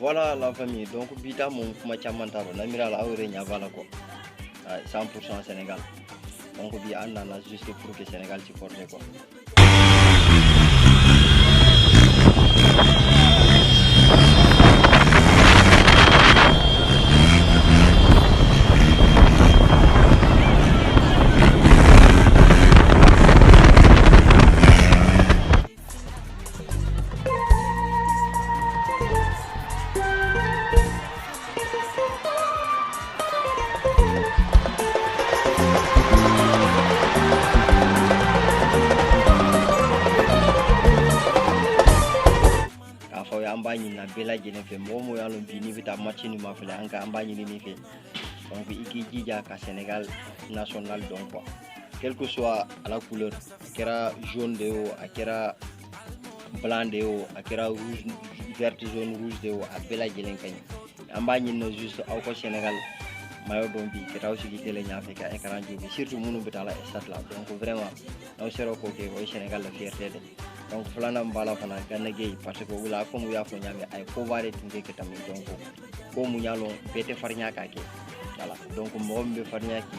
voilà la famille donc bi taa moom kuma caman t'a rɔ n na miiri la aw yɛrɛ ɲa b'a la quoi 100% Sénégal donc bi an nana juste pour ka Sénégal supporter quoi an b'a ɲinina bɛɛ lajɛlen fɛ mɔgɔ o mɔgɔ y'a lɔn bi n'i bɛ taa match nin mafilɛ an ka an b'a ɲinin'i fɛ donc i k'i jija ka Senegal national don quoi quel que soit a la couleur a kɛra jaune de ye o a kɛra blanc de ye o a kɛra rouge vert jaune rouge de ye o a bɛɛ lajɛlen ka ɲi an b'a ɲinina juste aw ka senegal maillot don bi ka taa sigi tele ɲafɛ ka écran jufɛ surtout minnu bɛ taa la stade la donc vraiment n'aw sera k'o kɛ o ye senegal la fierté de donc filanan b'a la fana Gana Gueye parce que u la comme u y'a fɔ ɲa min a ye koba de tun kɛ ka tɛmɛ donc ko mun y'a lɔn bɛɛ tɛ farinya k'a kɛ voilà donc mɔgɔ min bɛ farinya k'i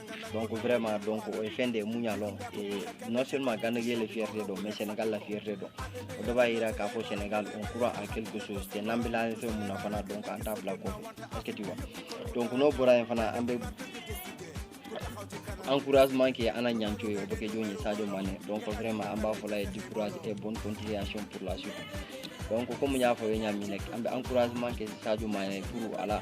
donc vraiment donc o ye fɛn de ye mun y'a lɔn non seulement Gana Gueye la fierté don mais sénégal la fierté don o de b'a yira k'a fɔ sénégal on croit à quelque chose tɛ n'an bɛ la fɛn mun na fana donc an t'a bila kɔfɛ est ce que tu vois donc n'o bɔra yen fana an bɛ encouragement kɛ an na Nianthio ye o bɛ kɛ jɔn ye sadio mane donc vraiment an b'a fɔl'a ye du courage et bonne continuation pour la suite donc comme n y'a fɔ aw ye ɲa min rek an bɛ encouragement kɛ sadio mane pour a la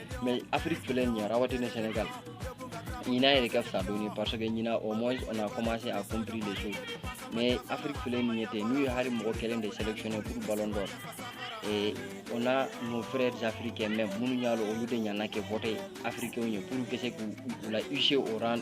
mais afrique filɛ nin ye rawatina sénégal ɲinan yɛrɛ ka fisa dɔɔni parce que ɲinan au moins on a commencé à compris les choses mais afrique filɛ nin ye ten n'u ye hali mɔgɔ kelen de sélectionner pour ballon d'or et on a nos frères africains même minnu y'a lɔn olu de ɲana ka voter africainw ye pour ka se k'olu hisser au rang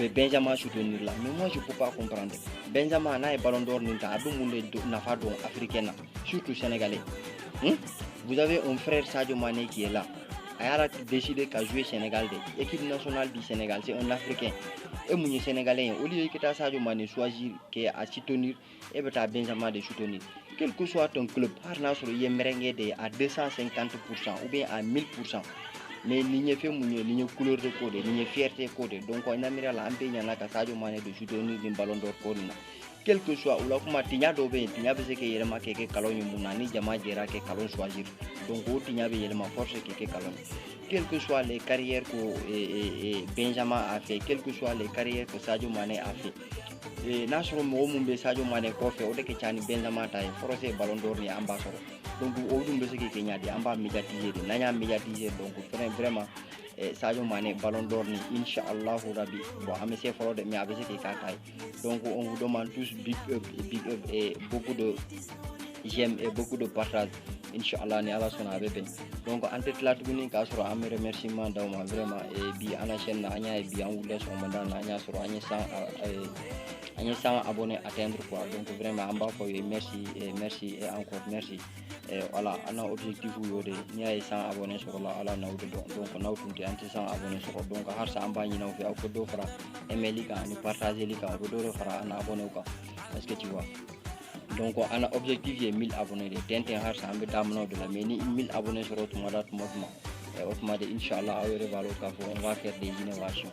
bɛ Benzema soutenir la mais moi je peux pas comprendre Benzema n'a ye ballon d'or nin ta a bɛ mun de nafa don africain na surtout sénégalais hmm? vous avez un frère Sadio Mané qui est là a y'a décider ka jouer Sénégal de équipe nationale du Sénégal c'est un africain e mun ye sénégalais ye au lieu i ka taa Sadio Mané choisir k'a soutenir e bɛ taa Benzema de soutenir quel que soit ton club hali n'a sɔrɔ i ye merengue de ye à 250 pour cent ou bien à 1000 pour cent mais nin ye fɛn mun ye nin ye couleur de ko de ye nin ye fierté ko de ye donc n na miiri la an bɛɛ ɲana ka Sadio Mane de soutenir nin ballon d'or ko nin na quel que soit o la kuma tiɲa dɔw bɛ yen tiɲa bɛ se k'i yɛlɛma k'i kɛ kalon ye mun na ni jama jɛra ka kalon choisir donc o tiɲa bɛ yɛlɛma force k'i kɛ kalon ye quel que soit les carrières que eh, eh, eh, Benzema a fait quel que soit les carrières que Sadio Mane a fait Eh, n'a sɔrɔ mɔgɔ minnu bɛ Sadio Mané kɔfɛ o de ka ca ni Benzema ta ye forcé ballon d'or ni an b'a sɔrɔ donc o dun bɛ se ka kɛ ɲadi an b'a médiatiser de n'an y'a médiatiser donc fɛnɛ vraiment eh, Sadio Mané ballon d'or ni insha allahu rabi bon a ma se fɔlɔ de mais a bɛ se ka k'a ta ye donc on vous demande tous big up big up et beaucoup de j'aime et beaucoup de partage inchallah ni ala sɔnna a bɛ bɛn donc an tɛ tila tuguni k'a sɔrɔ an bɛ remerciement d'aw ma vraiment eh, bi an na chaîne na an y'a ye bi an wulila sɔgɔmada na an y'a sɔrɔ an ye 100 an ye 100 abonnés atteindre quoi donc vraiment an b'a f'aw ye merci eh, merci et eh, encore merci voilà an na objectif y'o de n'i y'a ye 100 abonnés sɔrɔla ala n'aw de don donc n'aw tun tɛ an tɛ 100 abonnés sɔrɔ donc halisa an b'a ɲini aw fɛ aw ka dɔ fara aimeli kan ani partageli kan o bɛ dɔ de fara an na abonnés kan est ce que tu vois donc an na objectif ye 1000 abonnés de ten ten halisa an bɛ daminɛw de la mais ni 1000 abonnés sɔrɔ tuma da tuma tuma o tuma de inshallah aw yɛrɛ b'a dɔn k'a fɔ on va faire des innovations